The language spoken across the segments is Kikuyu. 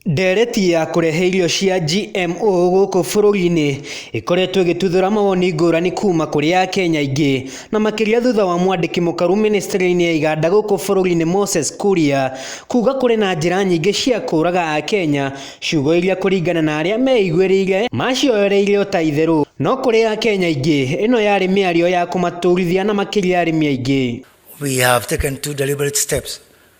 Ndereti ya kũrehe irio cia GMO gũkũ bũrũri-inĩ ĩkoretwo ĩgĩtuthũra mawoni ngũrani kuma kũrĩ akenya aingĩ, na makĩria thutha wa mwandĩki mũkaru mĩnĩcitĩrĩ-inĩ ya iganda gũkũ bũrũri-inĩ Moses Kuria, kuga kũrĩ na njĩra nyingĩ cia kũraga akenya, ciugo iria kũringana na arĩa meiguĩrĩire macioereire ota itherũ, no kũrĩ akenya aingĩ ĩno yarĩ mĩario ya kũmaturithia na makĩria arĩmi aingĩ. We have taken two deliberate steps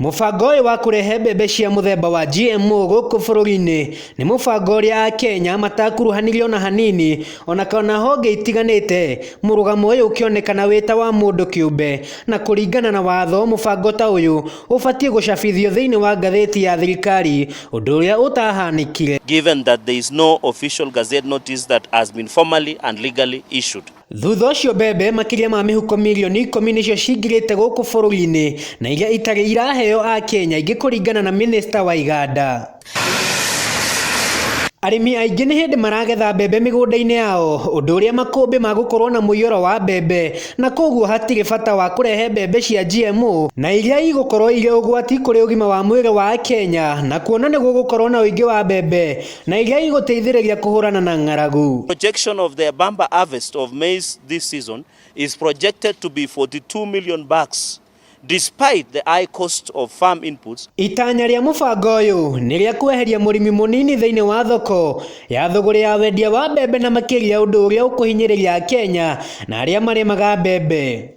Mũbango ũyũ wa kũrehe mbembe cia mũthemba wa GMO gũkũ bũrũri-inĩ nĩ mũbango ũrĩa Akenya matakuruhanirio na hanini ona kana honge itiganĩte mũrũgamo ũyũ ũkĩonekana wĩ ta wa mũndũ kĩũmbe. Na kũringana na watho mũbango ta ũyũ ũbatiĩ gũcabithio thĩinĩ wa ngathĩti ya thirikari ũndũ ũrĩa ũtahanĩkire. given that there is no official gazette notice that has been formally and legally issued. Thutha ũcio mbembe makĩria ma mĩhuko mirioni ikũmi nĩcio cingĩrĩte gũkũ bũrũri-inĩ na iria itarĩ iraheo a Kenya ingĩ kũringana na mĩnĩsta wa iganda. Arĩmi aingĩ nĩ hĩndĩ maragetha mbembe mĩgũnda-inĩ yao ũndũ ũrĩa makũmbĩ ma gũkorwo na mũiyũro wa mbembe na koguo hatirĩ bata wa kũrehe mbembe cia GMO na iria igũkorwo irĩ ũgwati kũrĩ ũgima wa mwĩrĩ wa Akenya na kuona nĩgũgũkorwo na ũingĩ wa mbembe Na iria igũteithĩrĩria kũhũrana na ng'aragu. Projection of the bumper harvest of maize this season is projected to be 42 million bags despite the high cost of farm inputs. Itanya rĩa mũbango ũyũ nĩ rĩa kweheria mũrĩmi mũnini thĩinĩ wa thoko ya thũgũrĩ ya wendia wa mbembe na makĩria ũndũ ũrĩa ũkũhinyĩrĩria Akenya na arĩa marĩmaga mbembe.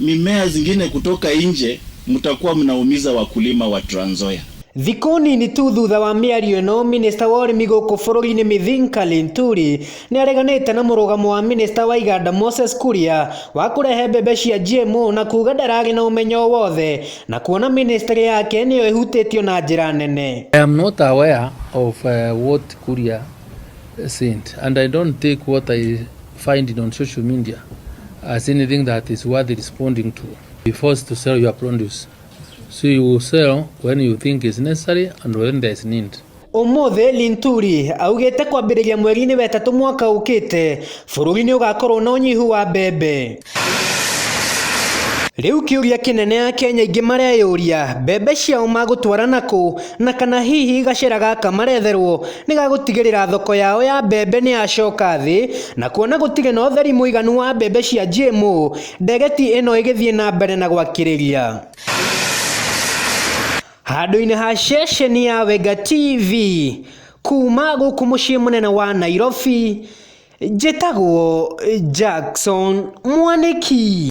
Mimea zingine kutoka nje mtakuwa mnaumiza wakulima wa Trans Nzoia. Thikũ nini tu thutha wa mĩario ĩno, minista wa ũrĩmi gũkũ bũrũri-inĩ Mithinka Linturi nĩareganĩte na mũrũgamo wa minista wa iganda Moses Kuria wa kũrehe mbembe cia GMO na kuga ndararĩ na ũmenyo o wothe na kuona ministry yake nĩyo ĩhutĩtio na njĩra nene. I am not aware of uh, what Kuria said and I don't take what I find it on social media as anything that is worth responding to. Be forced to sell your produce. So you will sell when you think is necessary and when there is need. Ũmũthĩ Linturi augĩte kwambĩrĩria mweri-inĩ wetatũ mwaka ũkĩte bũrũri nĩ ũgakorwo na ũnyihu wa mbembe. Rĩu kĩũria kĩnene akenya aingĩ mareyũria, mbembe ciao magũtwara nakũ, na kana hihi gacĩra gaka maretherwo nĩgagũtigĩrĩra thoko yao ya mbembe nĩyacoka thĩ, na kuona gũtirĩ na ũtheri mũiganu wa mbembe cia GMO, ndegeti ĩno ĩgĩthiĩ na mbere na gwakĩrĩria. Handũ-inĩ ha ceceni ya Wenga TV, kuma gũkũ mũciĩ mũnene wa Nairobi. Njĩtagwo Jackson Mwanĩki.